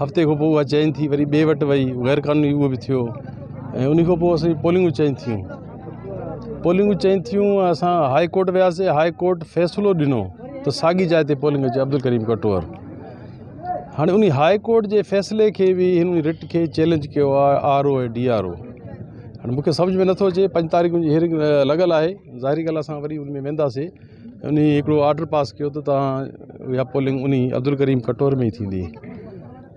هفتي کان پوء اها چين ٿي وري ٻئي وٽ وئي غير قانوني اهو به ٿيو ۽ ان کان پوء اسان پولنگون چين ٿيون پولنگون چين ٿيون اسان هاء ڪورٽ وياسي هاء ڪورٽ فيصلو ڏنو ته ساڳي جاء تي پولنگ اچي عبدالڪريم ڪٽور هاڻي ان هاء ڪورٽ جي فيصلي کي به هن رٽ کي چيلنج ڪيو آهي R O ۽ D R O هاڻي مونکي سمجھ ۾ نٿو اچي پنج تاريخ جي هيرنگ لڳل آهي ظاهري ڳالهه اسان وري ان ۾ وينداسي انهي هڪڙو آرڊر پاس ڪيو ته توهان اها پولنگ انهي عبدالڪريم کٽور ۾ ئي ٿيندي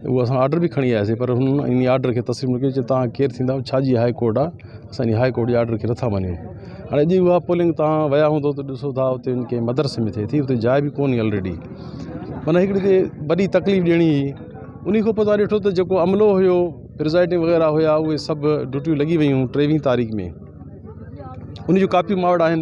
اهو اسان آرڊر به کڻي آياسي پر هن انهي آرڊر کي تسليم نه ڪيو چيو توهان ڪير ٿيندا آهيو ڇا جي هاء ڪورٽ آهي اسان انهي هاء ڪورٽ جي آرڊر کي نٿا مڃون هاڻي اڄ اها پولنگ توهان ويا هوندو ته ڏسو ٿا اتي ڪنهن مدرسي ۾ ٿئي ٿي اتي جاء به ڪونهي آلريڊي معنيٰ هڪڙي جي وڏي تڪليف ڏيڻي هئي انهي کان پوء توهان ڏٺو ته جيڪو عملو هيو پرزائيڊنگ وغيره هيا اهي سڀ ڊيوٽيون لڳي ويون ٽيويهين تاريخ ۾ انهي جون ڪاپيون ماء وٽ آهن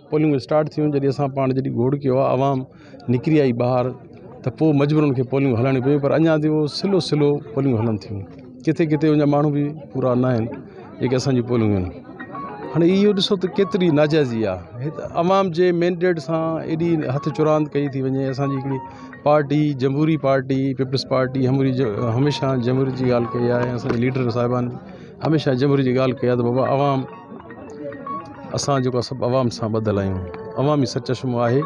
پولنگ اسٽارٽ ٿيون جڏهن اسان پاڻ جڏهن گوڙ ڪيو آهي عوام نڪري آئي ٻاهر ته پوء مجبورا ان کي پولنگ هلائڻي پيون پر اڃا تائين اهو سلو سلو پولنگ هلن ٿيون ڪٿي ڪٿي ان جا ماڻهو به پورا نه آهن جيڪي اسانجي پولنگ آهن هاڻي اهو ڏسو ته ڪيتري ناجائزي آهي هت عوام جي مينڊيٽ سان ايڏي هٿ چراند ڪئي ٿي وڃي اسانجي هڪڙي پارٽي جمهوري پارٽي پيپلز پارٽي هموري جو هميشه جمهوريت جي ڳالهه ڪئي آهي اسانجي ليڊر صاحبان هميشه جمهوريت جي ڳالهه ڪئي آهي ته بابا عوام اسان جيڪو سڀ عوام سان ٻڌل آهيون عوام ئي سچ چشمو آهي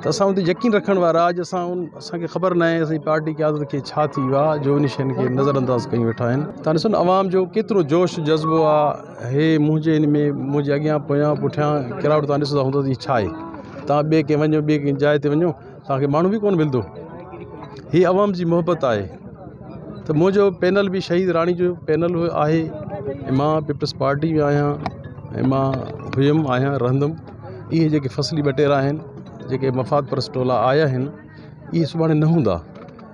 ته اسان ان تي يقين رکڻ وارا اڄ اسان ان اسانکي خبر ناهي اسان جي پارٽي قيادت کي ڇا ٿي ويو آهي جو ان شين کي نظر انداز ڪيون ويٺا آهن تان ڏسو نه عوام جو ڪيترو جوش جذبو آهي هي منهنجي ان ۾ منهنجي اڳيان پويان پٺيان ڪراوٽ تان ڏسندا هوندو ته هي ڇا آهي تان ٻي ڪنهن وڃو ٻي ڪنهن جاء تي وڃو توهان کي ماڻهو به ڪونه ملندو هي عوام جي محبت آهي ته منهنجو پينل به شهيد راڻي جو پينل آهي ۽ مان پيپلز پارٽي جو آهيان ۽ مان هيم آهيان رهندم اهي جيڪي فصلي ٻٽيرا آهن جيڪي مفاد پرست ٽولا آيا آهن اهي سڀاڻي نه هوندا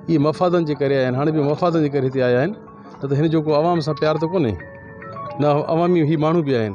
اهي مفادن جي ڪري آيا آهن هاڻي به مفادن جي ڪري هتي آيا آهن نه ته هن جو ڪو عوام سان پيار ته ڪونهي نه عوامي هي ماڻهو به آهن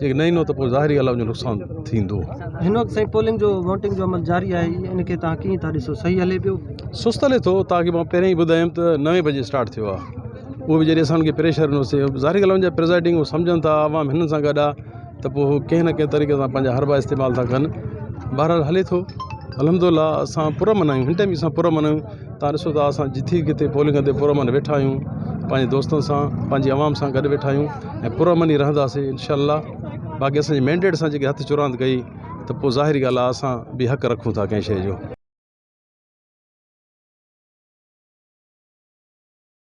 جي نه ايندو ته پوء ظاهر ئي ڳالهه آهي جو نقصان ٿيندو. هن وقت سائين پولنگ جو ووٽنگ جو عمل جاري آهي ان کي توهان ڪيئن ٿا ڏسو صحيح هلي پيو. سست هلي ٿو توهان کي مان پهريان ئي ٻڌايم ته نوي بجي اسٽارٽ ٿيو آهي اهو به جڏهن اسان کي پريشر ڏنو سي ظاهر ڳالهه آهي ان جا پرزائيڊنگ هو سمجهن ٿا عوام هنن سان گڏ آهي ته پوء هو ڪنهن نه ڪنهن طريقي سان پنهنجا حربا استعمال ٿا ڪن بهرحال هلي ٿو الحمد الله اسان پر امن آهيون هن ٽائيم اسان پر امن آهيون تان ڏسو ته اسان جٿي ڪٿي پولنگ تي پرامن ويٺا آهيون پنهنجي دوستن سان پنهنجي عوام سان گڏ ويٺا آهيون ۽ پرامن ئي رهنداسين انشاء الله باقي اسان جي مينڊيٽ سان جيڪي هٿ چراند ڪئي ته پوء ظاهري ڳالهه آهي اسان به حق رکون ٿا ڪنهن شيء جو.